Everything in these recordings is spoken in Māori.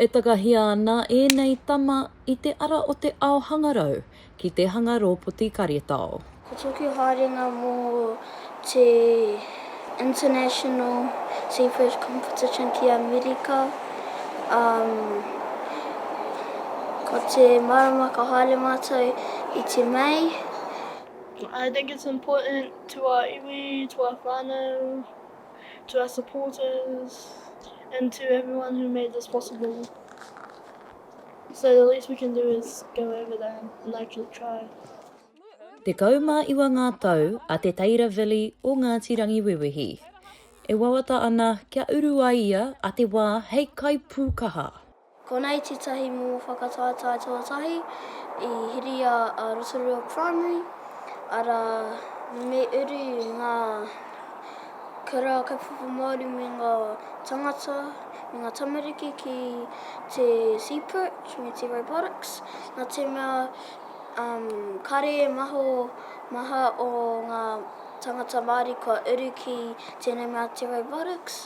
E takahia ana ēnei tama i te ara o te ao hangarau ki te hanga rōpoti karetao. Ko tōku haerenga mō te International Seafood Competition ki Amerika, umm, ko te marama ka haere mātou i te Mei. I think it's important to our iwi, to our whānau, to our supporters, and to everyone who made this possible. So the least we can do is go over there and actually try. Tekau mā iwa ngā tau a Te Teira Vili o Ngāti Rangiwewehi. E wawata ana kia uru ai ia a te wā hei kaipūkaha. Konei tētahi momo whakataetae tuatahi i hiria a Rotorua Primary, arā, me uru ngā kura kaupapa Māori me ngā tāngata, me ngā tamariki ki te Seaperch me te Robotics, nā te mea kare e maho maha o ngā tāngata Māori kua uru ki tēnei mea te Robotics.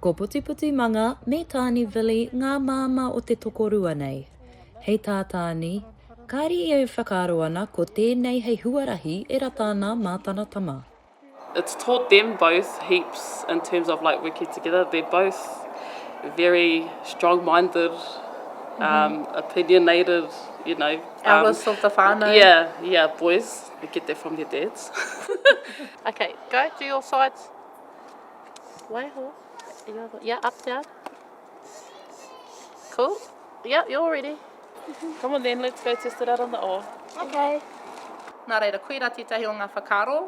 Ko Putiputi Manga me Tāne Vili ngā māmā o te tokorua nei. Hei tā Tāne, kāre ia e whakaaro ana ko tēnei hei huarahi e rata ana mā tana tama. It's taught them both heaps in terms of like working together, they're both very strong minded, um, opinionated, you know, um, Eldest of the whānau. yeah, yeah, boys, they get that from their dads. Okay, go, do your sides. Waiho. You're the, yeah, up down. Cool. Yeah, you're all ready. Come on then, let's go test it out on the oar. Okay. Nā reira, koirā tētahi o ngā whakaaro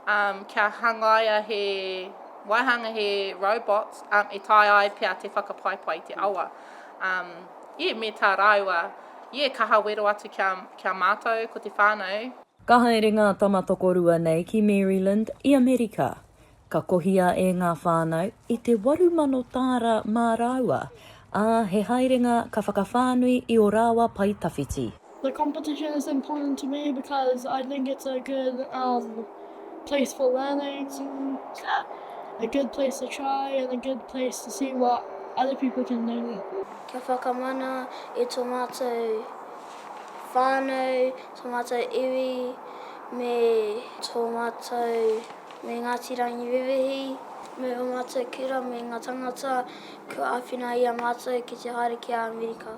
um, kia hangaia he waihanga, he robots um, e tae ai pia te whakapaipai i te awa. Um, yeah, me tā rāua, yeah, kaha wero atu kia, kia mātou, ko te whānau, Ka haere ngā tama tokorua nei ki Maryland i Amerika. Ka kohia e ngā whānau i te waru mano tāra mā rāua, ā, he haerenga ka whakawhānui i ō rāua pae tawhiti. The competition is important to me because I think it's a good um place for learning, a good place to try and a good place to see what other people can do. Kia whakamana i tō mātou whānau, tō mātou iwi me tō mātou Me Ngāti Rangiwewehi, me ō mātou kura, me ngā tāngata kua āwhina i a mātou ki te haere ki a Amerika.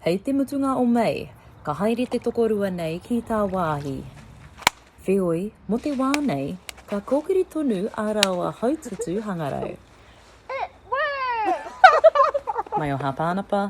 Hei te mutunga o Mei, ka haere te tokorua nei ki tāwāhi. Wheoi, mō te wā nei, ka kōkiri tonu a rāua Haututu Hangarau. Mai o Hāpānapa,